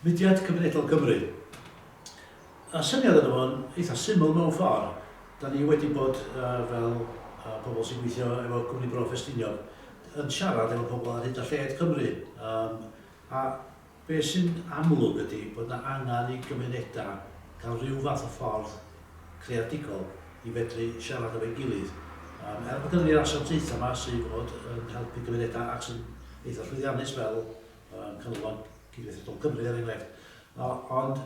Mudiad Cymunedol Cymru. Y syniad yna fo'n eitha syml mewn ffordd, da ni wedi bod fel pobl sy'n gweithio efo Cwmni Bro Ffestiniog yn siarad efo pobl ar hyd a lled Cymru a Be sy'n amlwg ydy bod 'na angen i gymunedau gael rhyw fath o ffordd creadigol i fedru siarad efo'i gilydd. Yym er bod gynnon ni'r asiantaethau 'ma sydd fod yn helpu cymunedau ac sy'n eitha' llwyddiannus fel yym Canolfan Cydweithredol Cymru er enghraifft o- ond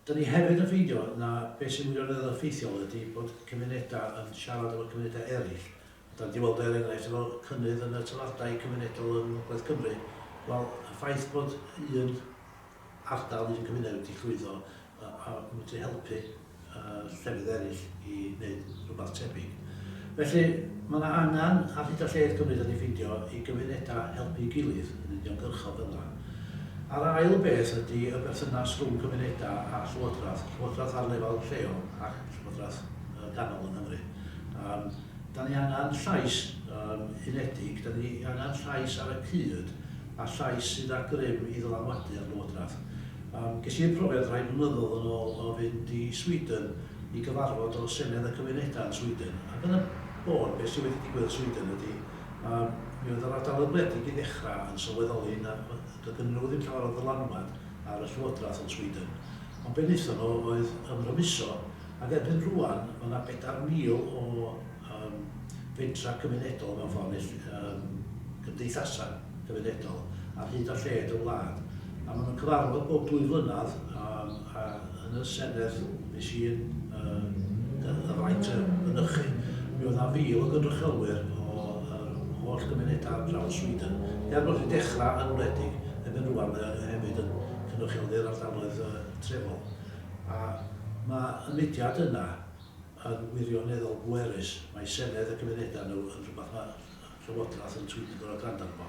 Dyn ni hefyd yn ffeindio na beth sy'n wirioneddol effeithiol ydy bod cymunedau yn siarad efo cymunedau eraill. Dan ni 'di weld o er enghraifft efo cynnydd yn y toiledau cymunedol yng Ngogledd Cymru. Wel, y ffaith bod un ardal, un cymuned wedi llwyddo a a medru helpu yy llefydd eraill, i wneud rhywbeth tebyg. Felly, mae yna angen ar hyd a lled Cymru dan ni'n ffeindio i gymunedau helpu'i gilydd yn uniongyrchol fel yna. A'r ail beth ydy y berthynas rhwng cymunedau a llywodraeth, llywodraeth ar lefel lleol ac llywodraeth ganol yng Nghymru. Yym, dan ni angen llais yym unedig, dan ni angen llais ar y cyd a llais sydd â grym i ddylanwadu ar lywodraeth. Yym, ges i profiad rhai blynyddoedd yn ôl o fynd i Sweden, i gyfarfod o Senedd y Cymunedau yn Sweden ac yn y bôn beth sydd wedi digwydd yn Sweden ydy yy mi oedd yr ardaloedd gwledig i ddechrau yn sylweddoli na doedd gennyn nhw ddim llawer o ddylanwad ar y Llywodraeth yn Sweden ond be wnaethon nhw oedd ymrymuso ac erbyn rŵan mae 'na 4,000 o um, fentra cymunedol mewn ffordd neu um, gymdeithasau cymunedol ar hyd a lled y wlad. A maen nhw'n cyfarfod bob dwy flynedd um, a yn y Senedd nes i yn uh, y, y fraint y mynychu. Mi oedd na fil o gynrychiolwyr o uh, holl gymunedau ar draws Sweden. Er bod wedi dechrau yn wledig, erbyn rwan mae hefyd yn cynrychioli'r ardaloedd uh, trefol. A mae y mudiad yna Yn wirioneddol bwerus, mae Senedd a Cymunedau nhw yn rhywbeth mae'r Llywodraeth yn twyn yn gorfod gwrando arno fo.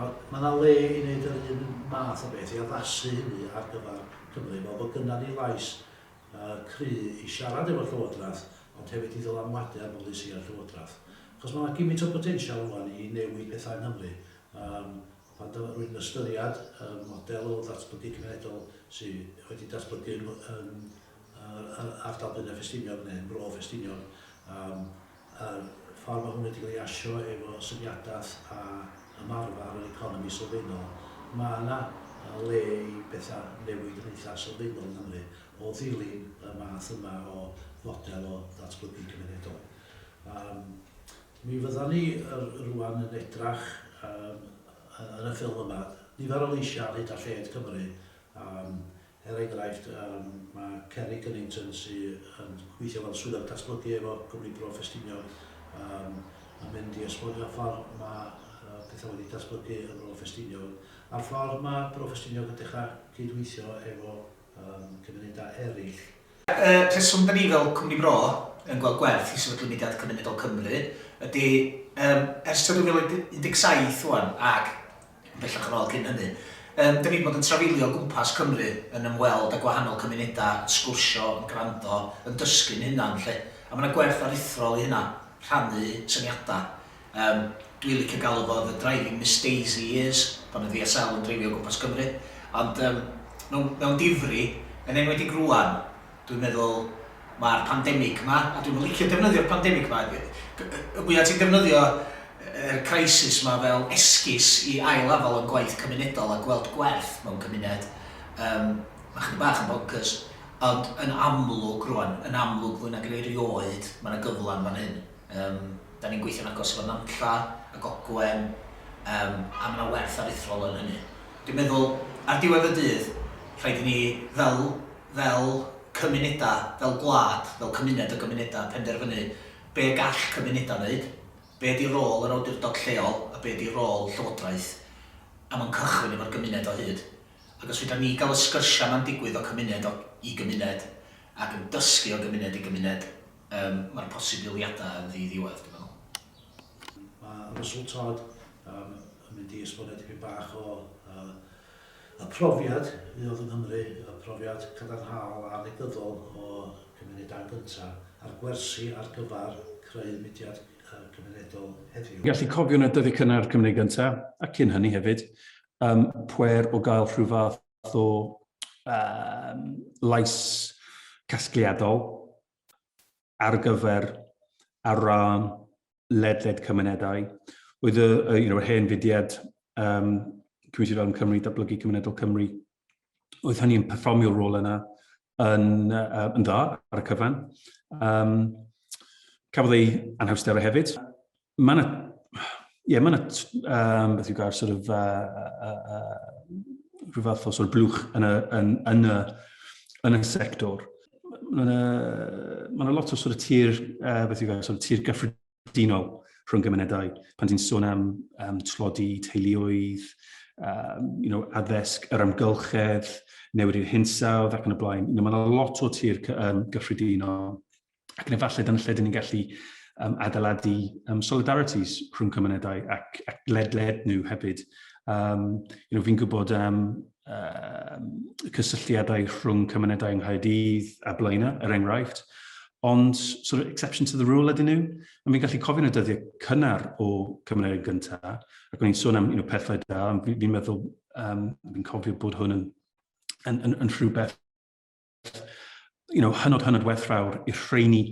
A mae 'na le i wneud yr un math o beth, i addasu hynny ar gyfer Cymru, fel bod gynnon ni lais cry' i siarad efo'r Llywodraeth, ond hefyd i ddylanwadu ar bolisïau'r Llywodraeth. Achos mae 'na gymint o botensial rŵan i newid pethau yng Nghymru. Yym pan dw- rwy'n ystyried y model o ddatblygu cymunedol sy' wedi datblygu yng Nghymru, Yn ardal Blaenau Ffestiniog neu Bro Ffestiniog yym yr ffordd ma' hwn wedi cael ei asio efo syniadaeth a ymarfer yr economi sylfaenol ma' yna yy le i betha newid yn eitha sylfaenol yng Nghymru o ddilyn y math yma o fodel o ddatblygu cymunedol. Yym mi fyddan ni yy rŵan yn edrach yym yy yn y ffilm yma nifer o leisia' ar hyd a lled Cymru yym Er enghraifft, yym, mae Ceri Cunnington sy yn gweithio fel Swyddog Datblygu efo Cwmni Bro Ffestiniog yym yn mynd i esbonio'r ffordd mae yy pethau wedi datblygu yn Bro Ffestiniog a'r ffordd mae Bro Ffestiniog yn dechrau cyd-weithio efo yym cymunedau eraill. Y rheswm da ni fel Cwmni Bro yn gweld gwerth i sefydlu Mudiad Cymunedol Cymru ydy, yym, ers tua 2017 ŵan ac Bellach yn ôl cyn hynny. Yym, dan ni 'di bod yn trafeilio o gwmpas Cymru yn ymweld â gwahanol cymunedau, yn sgwrsio, yn gwrando, yn dysgu'n hunan 'lly. A ma' 'na gwerth aruthrol i hynna, rhannu syniadau. Yym, dwi'n licio galw fo the driving Miss Daisy years, pan oedd ESL yn dreifio o gwmpas Cymru. Ond yym, mewn mewn difri, yn enwedig rŵan, Dwi'n meddwl, mae'r pandemig 'ma, a dwi'm yn licio defnyddio'r pandemig 'ma, y mwya' ti'n defnyddio yr crisis 'ma fel esgus i ail-afal o'n gwaith cymunedol a gweld gwerth mewn cymuned, yym, mae chydig bach yn boncyrs. Ond yn amlwg rwan, yn amlwg fwy nag yn erioed, mae 'na gyfle yn fan hyn. Yym, 'dan ni'n gweithio'n agos efo Nantlla ac Ogwen, yym, a mae 'na werth aruthrol yn hynny. Dwi'n meddwl, ar diwedd y dydd, rhaid i ni, fel fel cymunedau, fel gwlad, fel cymuned o gymunedau, penderfynu be gall cymunedau wneud, be ydy rôl yr awdurdod lleol a be ydy rôl Llywodraeth, a mae'n cychwyn efo'r gymuned o hyd. Ac os fedra ni gael y sgyrsiau yma'n digwydd o cymuned o i gymuned, ac yn dysgu o gymuned i gymuned, yym, mae'r posibiliadau yn ddiddiwedd, dwi'n meddwl. Mae Russell Todd, yym, yn mynd i esbonio dipyn bach o, yy, Y profiad fuodd yng Nghymru, y profiad cadarnhaol a negyddol o gymunedau'n gyntaf, a'r gwersi ar gyfer creu mudiad cymunedol heddiw. Gallu cofio yn y dyddiau cynnar Cymru Gyntaf, a cyn hynny hefyd, ym pwer o gael rhyw fath o yym lais casgliadol ar gyfer ar ran ledled cymunedau. Oedd y, y, you know, hen fudiad um, Cymru Farm Cymru, Datblygu Cymunedol Cymru, oedd hynny yn perfformio'r rôl yna yn, uh, yn dda ar y cyfan. Um, cafodd ei anhawsterau hefyd. Mae yna, ie, yeah, mae yna, um, beth yw gair, sort of, uh, uh, uh, rhyw fath o sort of blwch yn y, yn, yn y, yn y sector. mae yna, ma yna lot o sort of tir, uh, beth yw gael, sort of tir gyffredinol rhwng gymunedau. Pan ti'n sôn am um, tlodi teuluoedd, um, you know, addysg, yr amgylchedd, newid i'r hinsawdd ac yn y blaen. You know, mae yna lot o tir um, gyffredinol. Ac yn efallai dyna lle dyn ni'n gallu um, adeiladu um, solidarities rhwng cymunedau ac, ac ledled nhw hefyd. Um, you know, fi'n gwybod um, y cysylltiadau rhwng cymunedau yng Nghaerdydd a Blaenau, er enghraifft, ond sort of exception to the rule ydyn nhw. A fi'n gallu cofio'n y dyddiau cynnar o cymunedau gyntaf, ac o'n i'n sôn am you know, pethau da, fi'n fi meddwl, um, fi'n cofio bod hwn yn, yn, yn, yn rhywbeth you know, hynod hynod werthfawr i'r rheini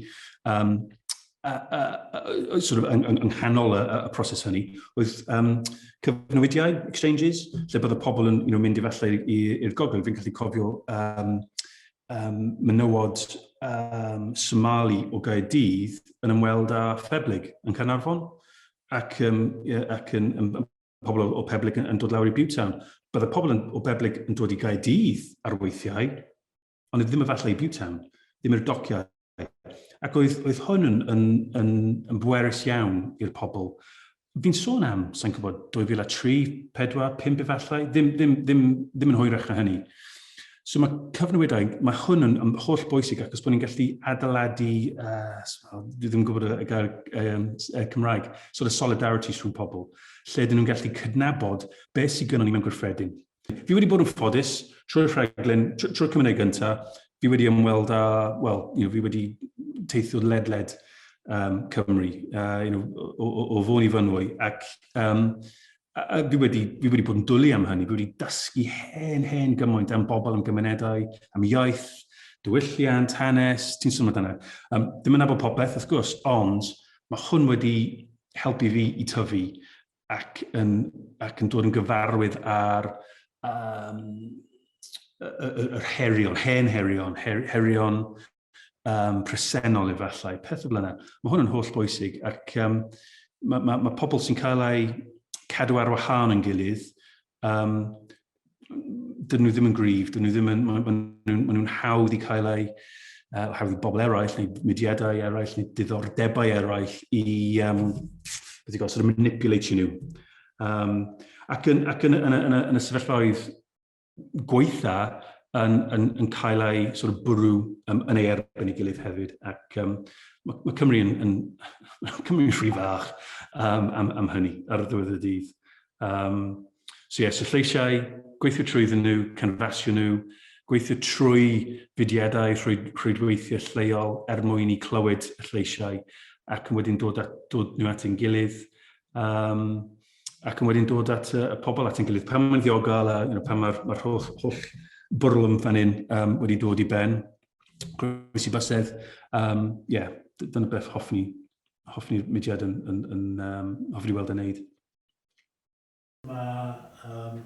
um, uh, uh, uh, sort of yng, yng nghanol y, y proses hynny oedd um, cyfnewidiau, exchanges, lle bod y pobl yn you know, mynd i falle i'r gogledd. Fi'n gallu cofio um, um, menywod um, Somali o Gaerdydd yn ymweld â Pheblig yn Carnarfon ac, um, ac yn, yn, yn pobl o Peblig yn dod lawr i Butetown. Bydd y pobl o Peblig yn dod i Gaerdydd ar weithiau, ond ddim efallai i Butetown, ddim i'r dociau. Ac oedd, oedd hwn yn, yn, yn, yn bwerus iawn i'r pobl. Fi'n sôn am, sa'n gwybod, 2003, 4, 5 efallai, ddim, ddim, ddim, ddim yn hwyrach na hynny. So mae cyfnewidau, mae hwn yn, yn holl bwysig ac os bod ni'n gallu adeiladu, uh, dwi ddim yn gwybod y gair um, Cymraeg, sort of solidarities rhwng pobl. lle dyn nhw'n gallu cydnabod beth sydd gynnon ni mewn gwrthfedyn. Fi wedi bod yn ffodus trwy'r rhaglen, trwy'r cymuned gyntaf, fi wedi ymweld â, wel, you know, fi wedi teithio ledled um, Cymru, uh, you know, o, o, o fôn i fynwy, ac um, a, fi, wedi, fi wedi bod yn dwlu am hynny, fi wedi dysgu hen, hen gymaint am bobl, am gymunedau, am iaith, diwylliant, hanes, ti'n sôn amdano. Um, ddim yn abod popeth, wrth gwrs, ond mae hwn wedi helpu fi i tyfu ac yn, ac yn dod yn gyfarwydd ar um, yr herion, hen herion, her, herion um, presennol efallai, pethau fel yna. Mae hwn yn holl bwysig ac um, mae, mae, mae pobl sy'n cael eu cadw ar wahan yn gilydd Um, dyn nhw ddim yn gryf, dyn nhw ddim yn, maen nhw'n ma nhw hawdd i cael eu, uh, hawdd i bobl eraill, neu mudiadau eraill, neu diddordebau eraill i, um, beth i gael, sort of manipulatio nhw. Um, ac yn, ac yn, yn, yn, yn y sefyllfaoedd gweitha yn, yn, yn cael ei sort of bwrw um, yn ei erbyn ei gilydd hefyd. Ac um, mae, mae Cymru yn, yn Cymru'n rhy fach um, am, am hynny ar y ddiwedd y dydd. Um, so yes, y lleisiau, gweithio trwyddyn nhw, canfasio nhw, gweithio trwy fudiadau rhwydweithiau lleol er mwyn i clywed y lleisiau ac yn wedyn dod, at, dod nhw at ein gilydd um, ac yn wedyn dod at y, y pobl at ein gilydd. Pan mae'n ddiogel a you know, pan mae'r ma holl, holl bwrlwm fan hyn um, wedi dod i ben, gwrs i basedd, um, yeah, dyna beth hoffwn ni, hoffwn ni'r mudiad yn, yn, yn um, hoffwn ni weld yn neud. Mae um,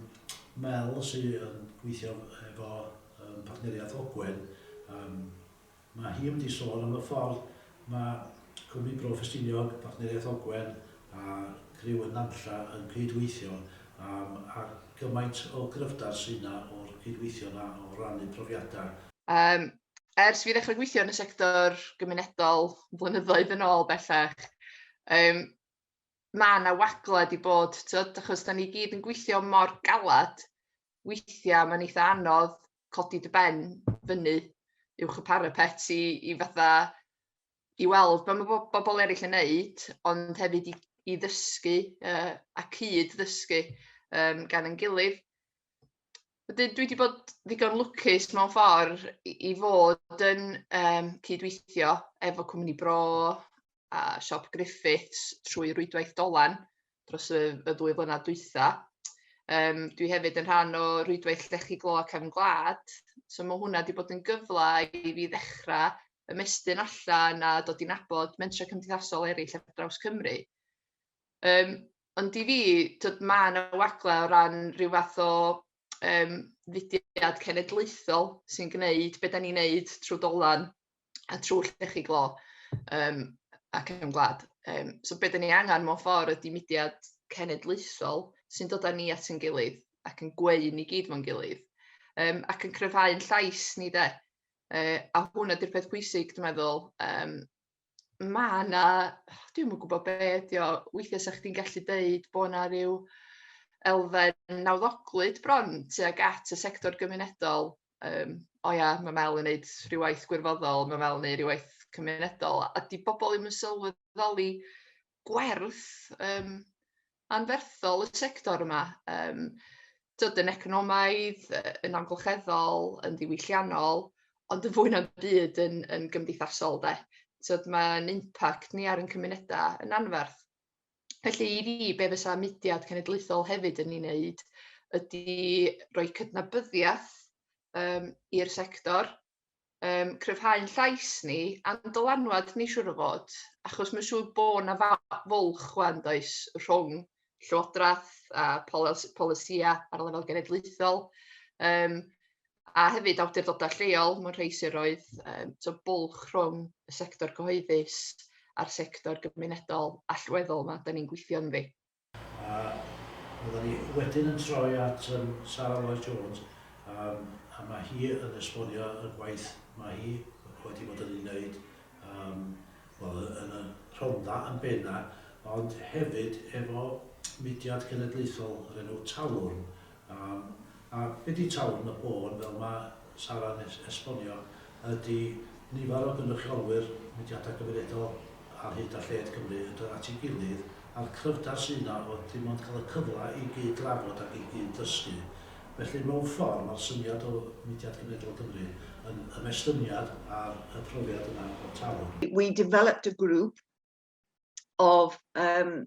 Mel sy'n um, gweithio efo um, partneriaeth Ogwen, um, mae hi wedi sôn am y ffordd mae Cwmni Bro Ffestiniog, partneriaeth Ogwen a Griw yn Nantlla yn cydweithio um, a gymaint o gryfder sy'n yna o'r cydweithio yna o rannu profiadau. Um, ers fi ddechrau gweithio yn y sector gymunedol flynyddoedd yn ôl bellach, um, mae yna wagled i bod, tyd, achos da ni gyd yn gweithio mor galad, weithiau mae'n eitha anodd codi dy ben fyny uwch y parapet i, i fatha i weld beth mae bo bobl eraill yn neud, ond hefyd i, i ddysgu uh, a cyd ddysgu um, gan yn gilydd. Wedyn dwi wedi bod ddigon lwcus mewn ffordd i, i fod yn um, cydweithio efo cwmni bro, a siop Griffiths trwy rwydwaith Dolan dros y, y ddwy flynedd dwytha. Um, dwi hefyd yn rhan o rwydwaith Llechi Glo ac Efn Gwlad, so mae hwnna wedi bod yn gyfle i fi ddechrau ymestyn allan a dod i'n abod mentrau cymdeithasol eraill ar draws Cymru. Um, ond i fi, tyd, mae yna wagle o ran rhyw fath o um, fudiad cenedlaethol sy'n gwneud beth da ni'n gwneud trwy dolan a trwy lle chi glo um, ac yn gwlad. Um, so beth ni angen mewn ffordd ydy mudiad cenedlaethol sy'n dod â ni at yn gilydd ac yn gweu ni gyd mewn gilydd um, ac yn cryfhau'n llais ni de. Uh, a hwn ydy'r peth pwysig, dwi'n meddwl, um, mae yna, dwi'n mwyn gwybod be ydi o, weithiau sa'ch chdi'n gallu deud bod yna rhyw elfen nawddoglyd bron tuag at y sector gymunedol yym "o ia ma' Mel yn neud ryw waith gwirfoddol, ma' Mel yn neud ryw waith cymunedol" a 'di bobol ddim yn sylweddoli gwerth yym anferthol y sector yma yym t'od yn economaidd, yy yn amgylcheddol, yn ddiwylliannol, ond yn fwy na'm byd yn yn gymdeithasol 'de, t'od ma'n impact ni ar 'yn cymuneda yn anferth. Felly i fi, be fysa mudiad cenedlaethol hefyd yn ei wneud ydy rhoi cydnabyddiaeth um, i'r sector, um, cryfhau'n llais ni a'n dylanwad ni siwr o fod, achos mae'n siŵr bod yna fwlch chwan does rhwng llywodraeth a polisïau ar lefel genedlaethol. Um, a hefyd awdurdodau lleol mewn rhai siroedd, yym so bwlch rhwng y sector cyhoeddus a'r sector gymunedol allweddol 'ma 'dan ni'n gweithio ynddi. A fyddan ni wedyn yn troi at yym Sara Lloyd Jones yym a ma' hi yn esbonio y gwaith ma' hi wedi bod yn ei wneud yym wel y- yn y Rhondda yn bena ond hefyd efo mudiad cenedlaethol o'r enw Talwrn Yym, a be di Tawrn y Bôn, fel ma Sara'n es- esbonio, ydi nifer o gynrychiolwyr mudiada cymunedol ar hyd a lled Cymru yn dod at ei gilydd, a'r cryfder sy yna o dim ond cael y cyfle i gyd drafod ac i gyd ddysgu. Felly mewn ffordd ma'r syniad o Mudiad Cymunedol Cymru yn ymestyniad ar y profiad yna o'r Tawrn. We developed a group of yym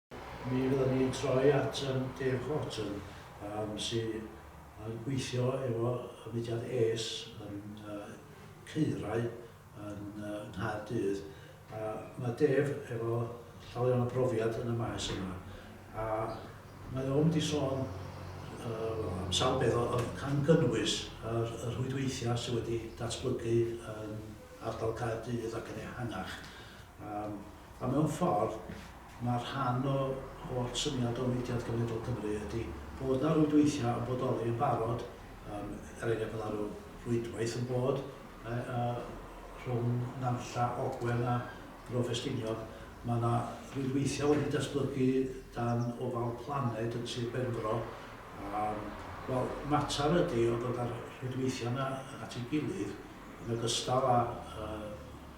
Mi fyddan ni'n troi at yym Dave Horton yym sy yn gweithio efo y mudiad ACE yn yy Caerau yn yy Nghaerdydd a ma' Dave efo llawer iawn o brofiad yn y maes yma a mae o'n mynd i sôn yy wel am sawl peth o- o- gan gynnwys yr y rhwydweithiau sy wedi datblygu yn ardal Caerdydd ac yn ehangach yym A mewn ffordd, mae rhan o holl syniad o Mudiad Genedl Cymru ydi bod 'na rwydweithiau yn bodoli yn barod, yym, er enghraifft ma' 'na ryw rwydwaith yn bod yy rhwng Nantlla, Ogwen a Bro Ffestiniog, ma' 'na rwydweithiau wedi datblygu dan ofal Planed yn Sir Benfro, yym, wel, mater ydi o ddod â'r rhwydweithiau 'na at ei gilydd yn ogystal â yy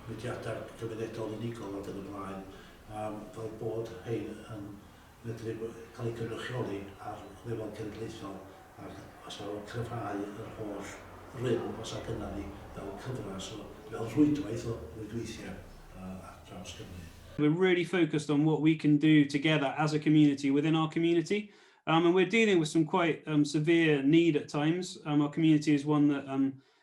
mudiadau cymunedol unigol ac yn y blaen yym fel bod rhein yn medru cael eu cynrychioli ar lefel genedlaethol ac os na nhw'n cryfhau yr holl rym os a gynna ni fel cyfres o fel rhwydwaith o rwydweithiau yy ar draws Cymru. We're really focused on what we can do together as a community within our community um, and we're dealing with some quite um, severe need at times. Um, our community is one that um,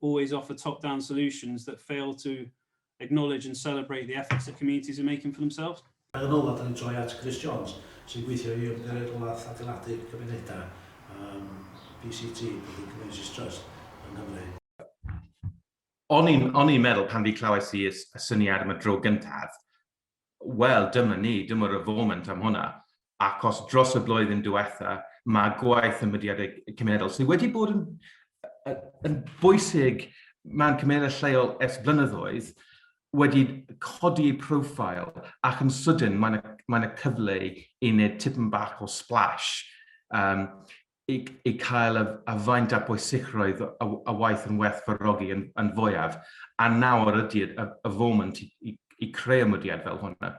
always offer top-down solutions that fail to acknowledge and celebrate the efforts that communities are making for themselves. Yn ola, da ni'n troi at Chris Jones, sy'n gweithio i Ymgyrraedd Rheolaeth Adeiladu Cymunedau, um, BCT, Building Communities Trust, yng Nghymru. O'n i'n meddwl pan fi clywais i y syniad am y dro gyntaf, wel, dyma ni, dyma'r y foment am hwnna, ac os dros y blwyddyn diwetha, mae gwaith y mudiadau cymunedol sydd wedi bod yn, yn bwysig mewn cymunedau lleol ers blynyddoedd, wedi codi ei profile ac yn sydyn mae yna, mae yna cyfle i wneud tipyn bach o splash. Um, eu cael a faint a bwysigrwydd y waith yn werth fawrogi yn, yn fwyaf, a nawr ydy y, y foment i, i, i creu ymwediad fel hwnna.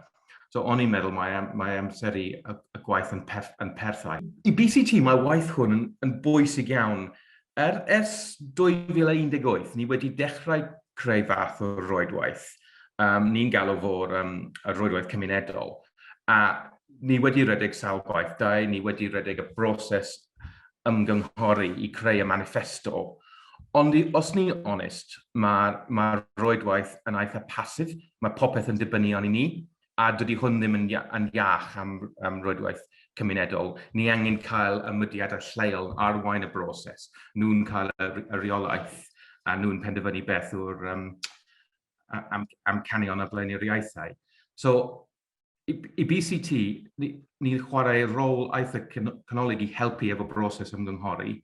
So o'n i'n meddwl mae, mae amseru y, y gwaith yn, perth, yn perthau. I BCT mae waith hwn yn, yn bwysig iawn. Er, ers 2018 ni wedi dechrau creu fath o roedwaith. Um, ni'n galw fo'r um, roedwaith cymunedol. A ni wedi redeg sawl gwaith, da i ni wedi redeg y broses ymgynghori i creu y manifesto. Ond i, os ni'n onest, mae'r ma roedwaith yn eitha pasif, mae popeth yn dibynnu arni ni, a dydy hwn ddim yn, yn iach am, am roedwaith cymunedol. Ni angen cael y mudiadau lleol arwain y broses. Nhw'n cael y, y reolaeth a nhw'n penderfynu beth yw'r um, am, am canion a blaenoriaethau. So, i, i BCT, ni'n ni chwarae rôl eitha canolig i helpu efo broses ymgynghori.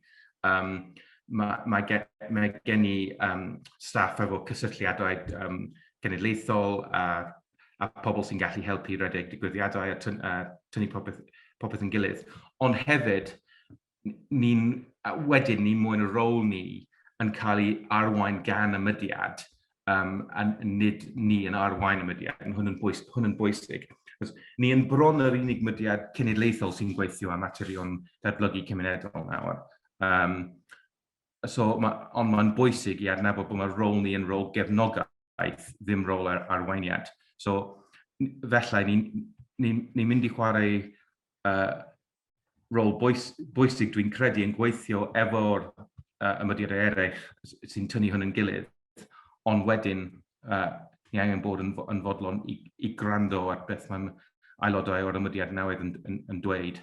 Um, mae, mae, gen, mae gen i um, staff efo cysylltiadau um, genedlaethol a, a pobl sy'n gallu helpu redeg digwyddiadau a, tyn, a tynnu popeth, popeth yn gilydd. Ond hefyd, ni'n, wedyn ni mwyn y rôl ni yn cael ei arwain gan y mudiad, um, a nid ni yn arwain y mudiad, yn hwn yn, bwys, hwn yn bwysig. Cos ni yn bron yr unig mudiad cenedlaethol sy'n gweithio am materion datblygu cymunedol nawr. Um, so, ma, ond mae'n bwysig i adnabod bod mae'r rôl ni yn rôl gefnogaeth, ddim rôl ar arweiniad. So, felly, ni'n ni, ni mynd i chwarae uh, rôl bwys, bwysig dwi'n credu yn gweithio efo'r uh, ymwydriadau eraill sy'n tynnu hwn yn gilydd, ond wedyn uh, ni angen bod yn, yn fodlon i, i gwrando ar beth mae'n aelodau o'r ymwydriad newydd yn, yn, yn dweud.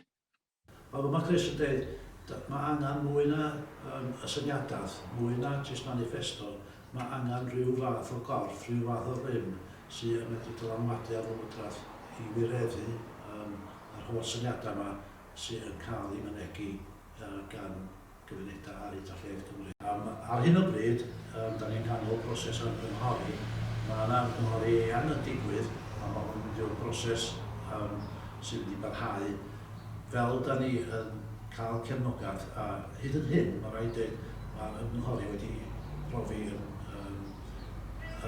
Mae rhywbeth Chris yn dweud, mae angen mwy na um, y syniadaeth, mwy na jyst manifesto, mae angen rhyw fath o gorff, rhyw fath o rym sy'n medru dylanwadu ar ymwydriaeth i wireddu um, a'r holl syniadau yma sydd yn cael eu mynegi gan gymunedau ar hyd a lled Cymru. Yym, ar hyn o bryd, yym, dan ni'n nghanol proses o ymgynghori. Mae 'na ymgynghori eang yn digwydd, a ma' hwn yn mynd i fod yn broses, yym, sy'n mynd i barhau. Fel dan ni yn cael cefnogaeth, a hyd yn hyn, ma' raid deud, ma'r ymgynghori wedi profi yn, yym,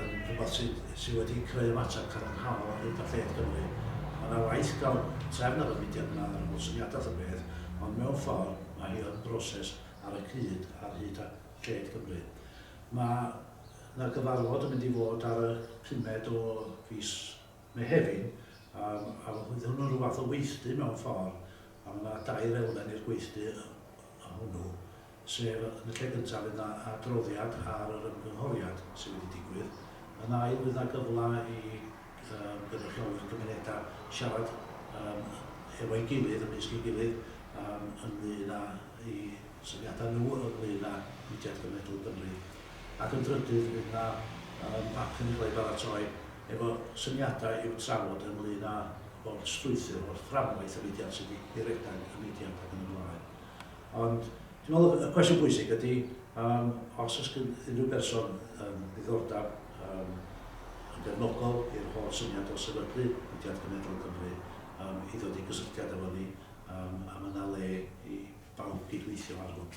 yn rhywbeth sydd, sydd wedi creu ymateb cadarnhaol ar hyd a lled Cymru. Mae yna waith galw trefn ar y fudiad yma ar ôl syniadau wrth y peth, ond mewn ffordd mae hi yn broses ar y cyd ar hyd a lled Cymru. Mae yna gyfarfod yn mynd i fod ar y pumed o fis Mehefin, yym, a fydd hwnnw'n rhyw fath o weithdy mewn ffordd, a mae yna dair elfen i'r gweithdy hwnnw. sef, yn y lle gyntaf fydd 'na adroddiad ar yr ymgynghoriad sydd wedi digwydd, yn ail fydd 'na gyfle i yym gynrychiolwyr cymunedau siarad yym hefo'i gilydd, ymysg ei gilydd, yym ynglŷn â'u syniadau nhw ynglŷn â Mudiad Genedlaethol Cymru, ac yn drydydd fydd 'na yym bapur yn cael ei baratoi efo syniadau i'w trafod ynglŷn â bob strwythur o'r fframwaith y mudiad sydd wedi redeg y mudiad ac yn y blaen. Ond dwi'n meddwl y cwestiwn bwysig ydy yym os oes gan unrhyw berson yym ddiddordeb yym yn gefnogol i'r holl syniad o sefydlu Mudiad Cenedl Cymru yym i ddod i gysylltiad efo ni yym a ma' 'na le i bawb gydweithio ar hwn.